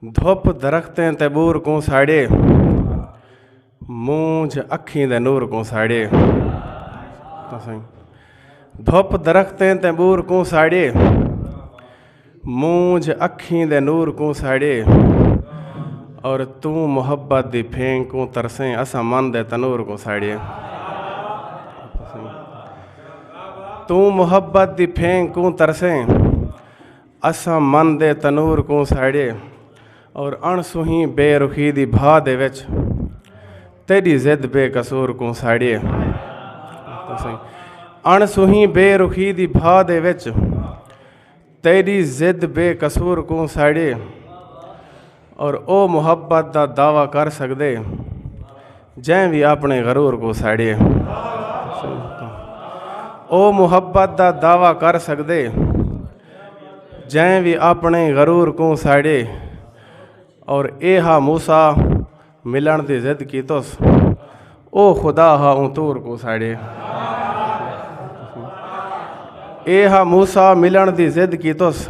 دھپ درختیں تے بور کوں ساڑے مونجھ اکھیں دے نور کوں ساڑے دھپ درختیں تے بور کوں ساڑے مونجھ اکھیں دے نور کوں ساڑے اور توں محبت دی پھینگ کوں ترسیں اسا من دے تنور کوں ساڑے توں محبت دی پھینگ کوں ترسیں اساں من دے تنور کوں ساڑیے اور اݨ سوہیں بے رخی دی بھا دے وچ تیڈی زد بے قصور کوں ساڑیے اݨ سوہیں بے رخی دی بھا دے وچ تیڈی زد بے قصور کوں ساڑیے اور او محبت دا دعوی کر سکدے جیں وی اپنے غرور کو ساڑیے او محبت دا دعوی کر سکدے جیں وی اپنے غرور کو ساڑیے اور اے ہا موسا ملن دی ضد کی تس او خدا ہا اون تور کو ساڑیے اے ہا موسا ملن دی ضد کی تس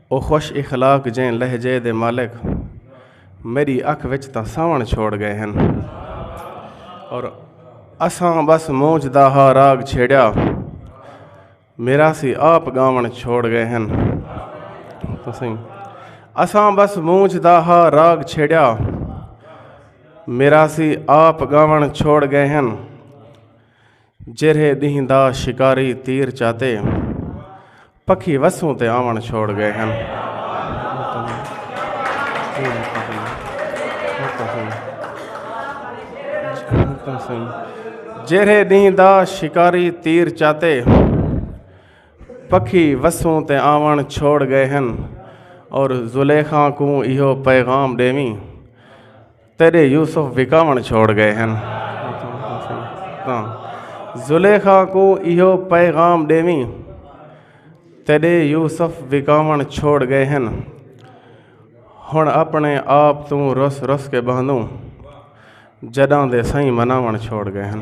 او خوش اخلاق جیں لہجے دے مالک میڈی اکھ وچ تاں ساون چھوڑ گئے ہن اور اساں بس مونج دا ہا راگ چھیڑیا میرا سی آپ گاون چھوڑ گئے ہن تسیں اساں بس مونج دا ہا راگ چھیڑیا میرا سی آپ گاون چھوڑ گئے ہن جیرھے ݙینہہ دا شکاری تیر چاتے پکھی وسوں تے آوݨ چھوڑ گئے ہن جیرھے ݙینہہ دا شکاری تیر چاتے پکھی وسوں تے آوݨ چھوڑ گئے ہن اور زلیخاں کوں ایہو پیغام ݙیویں تیݙے یوسف وکاوݨ چھوڑ ڳئے ہن تاں زلیخا کوں ایہو پیغام ݙیویں تیݙے یوسف وکاوݨ چھوڑ ڳئے ہن ہݨ اپݨے آپ توں رس رس کے ٻہندوں جݙاں دے سئیں مناوݨ چھوڑ ڳئے ہن